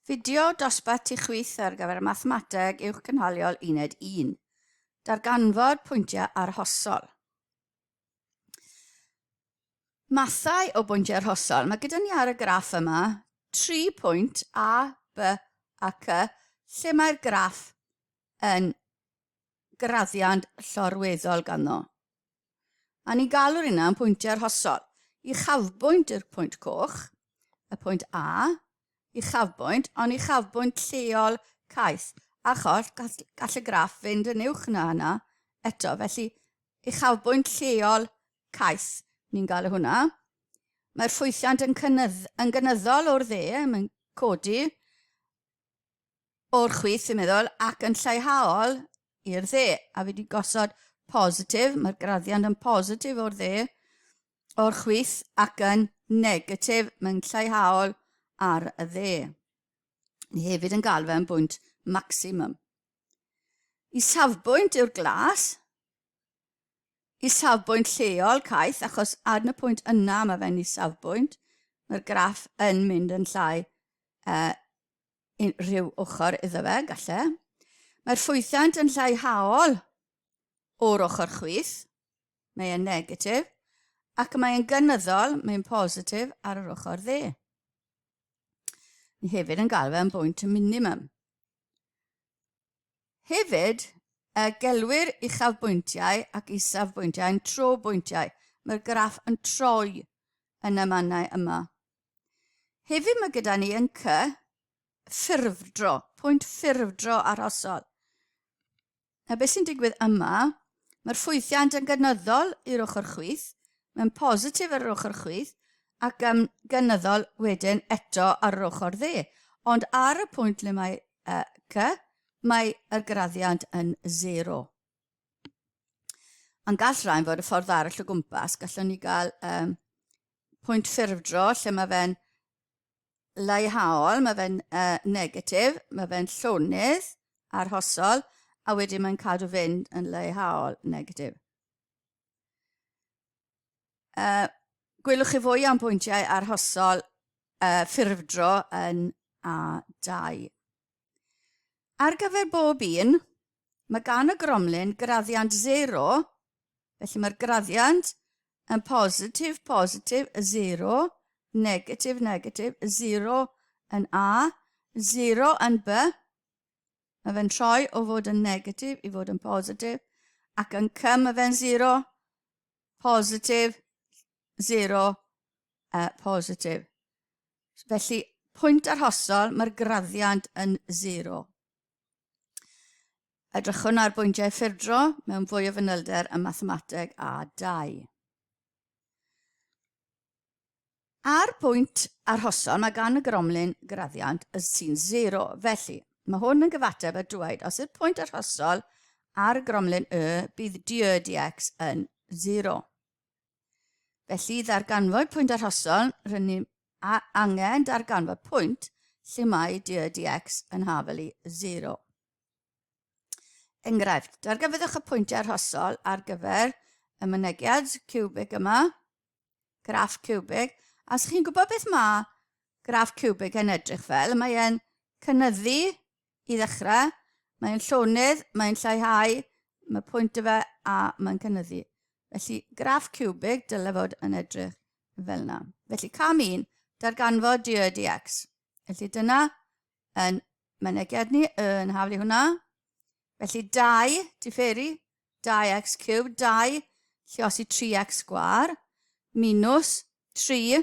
Fideo dosbarth ti chwith ar gyfer Mathemateg Uwch Cynhaliol Uned 1. Darganfod pwyntiau arhosol. Mathau o bwyntiau arhosol. Mae gyda ni ar y graff yma tri pwynt A, B a C lle mae'r graff yn graddiant llorweddol ganddo. A ni'n galw'r hynna yn pwyntiau arhosol. Uchafbwynt yw'r pwynt coch, y pwynt A, uchafbwynt, ond uchafbwynt lleol caeth. Achos gall, gall y graff fynd yn uwch na hynna eto, felly uchafbwynt lleol caeth, ni'n galw hwnna. Mae'r ffwythiant yn, cynnydd, yn gynyddol o'r dde, mae'n codi o'r chwith, dwi'n meddwl, ac yn lleihol i'r dde. A fi wedi gosod positif, mae'r graddiant yn positif o'r dde, o'r chwith, ac yn negatif, mae'n lleihol ar y dde. Ni hefyd yn galw fe'n bwynt maximum. I safbwynt yw'r glas, i safbwynt lleol caeth, achos ar y pwynt yna mae fe'n i safbwynt, mae'r graff yn mynd yn llai uh, unrhyw ochr iddo fe, galle. Mae'r ffwythiant yn lleihau o'r ochr chwith, mae e'n negatif, ac mae e'n gynyddol, mae'n positif ar yr ochr dde. Ni hefyd yn galw fe'n bwynt y minimum. Hefyd, y gelwir uchafbwyntiau ac isafbwyntiau yn trobwyntiau. Mae'r graff yn troi yn y mannau yma. Heddiw mae gyda ni yn cy ffurfdro, pwynt ffurfdro arhosol. A beth sy'n digwydd yma, mae'r ffwythiant yn gynyddol i'r ochr chwith, mae'n positif ar yr ochr chwith, ac yn gynyddol wedyn eto ar yr ochr dde. Ond ar y pwynt le mae uh, cy, mae y graddiant yn zero. Ond gall rhain fod y ffordd arall o gwmpas, gallwn ni gael um, pwynt ffurfdro lle mae fe'n leihhaol, mae fe'n uh, negatif, mae fe'n llonydd arhosol, a wedyn mae'n cadw fynd yn leihhaol negatif. Uh, gwelwch chi fwy am bwyntiau arhosol uh, ffurfdro yn A2. Ar gyfer bob un, mae gan y gromlin graddiant 0, felly mae'r graddiant yn positif, positif, 0, negatif, negatif, 0 yn A, 0 yn B. Mae fe'n troi o fod yn negatif i fod yn positif, ac yn C mae fe'n 0, positif, 0, uh, positif. Felly, pwynt arhosol, mae'r graddiant yn zero. Edrychwn ar bwyntiau ffurfdro mewn fwy o fanylder y mathemateg a 2. Ar bwynt arhosol, mae gan y gromlin graddiant y sy'n zero. Felly, mae hwn yn gyfateb a dweud, os yw'r pwynt arhosol ar y gromlin y, bydd dy dx yn zero. Felly, ddarganfod pwynt arhosol, rydyn ni angen darganfod pwynt lle mae dy dx yn hafel i 0. Enghraifft, darganfyddwch y pwyntiau arhosol ar gyfer y mynegiad cubig yma, graff cubig, a os chi'n gwybod beth mae graff cubig yn edrych fel, mae e'n cynyddu I ddechrau, mae'n llonydd, mae'n lleihau, mae pwynt y fe a mae'n cynyddu. Felly, graff cubig, dyle fod yn edrych fel yna. Felly, cam un, darganfod dy y dx. Felly, dyna yn mynegiad ni yn haflu hwnna. Felly, 2, diferu, 2x cubed, 2, lliosi 3x gwar, minus 3,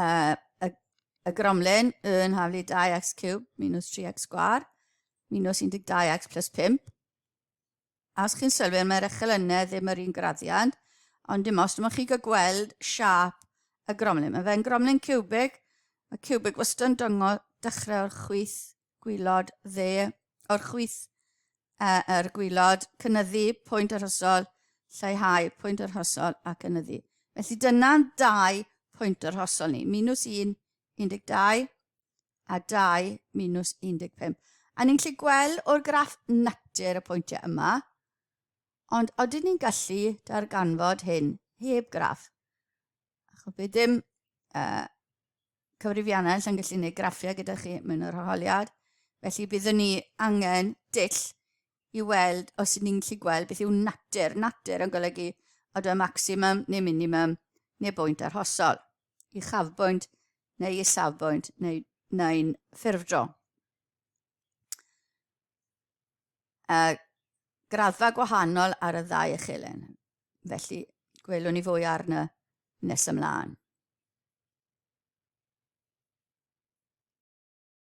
uh, y, y gromlin yn haflu 2x cube minus 3x sgwar minus 12x plus 5. As chi'n sylwi, mae'r echelynau ddim yr un graddiant, ond dim os dim ond chi'n gweld siap y gromlin. Mae fe'n gromlin cubic, mae cubic wastad yn dyngo dechrau o'r chwyth gwylod dde o'r chwith uh, er gwylod, cynyddu pwynt yr hosol, lleihau pwynt yr hosol a cynyddu. Felly dyna'n dau pwynt yr hosol ni, minus 1, 12 a 2, minus 15. A ni'n gallu gweld o'r graff natur y pwyntiau yma, ond oedden ni'n gallu darganfod hyn heb graff. A chwp i dim uh, cyfrifiannau allan gallu gwneud graffiau gyda chi mewn yr holiad. Felly byddwn ni angen dull i weld os ydyn ni'n gallu gweld beth yw natur. Natur yn golygu oedfa maximum neu minimum neu bwynt arhosol. I chafbwynt neu i safbwynt neu neu'n ffurfdro. uh, graddfa gwahanol ar y ddau echelen. Felly, gwelwn ni fwy arno nes ymlaen.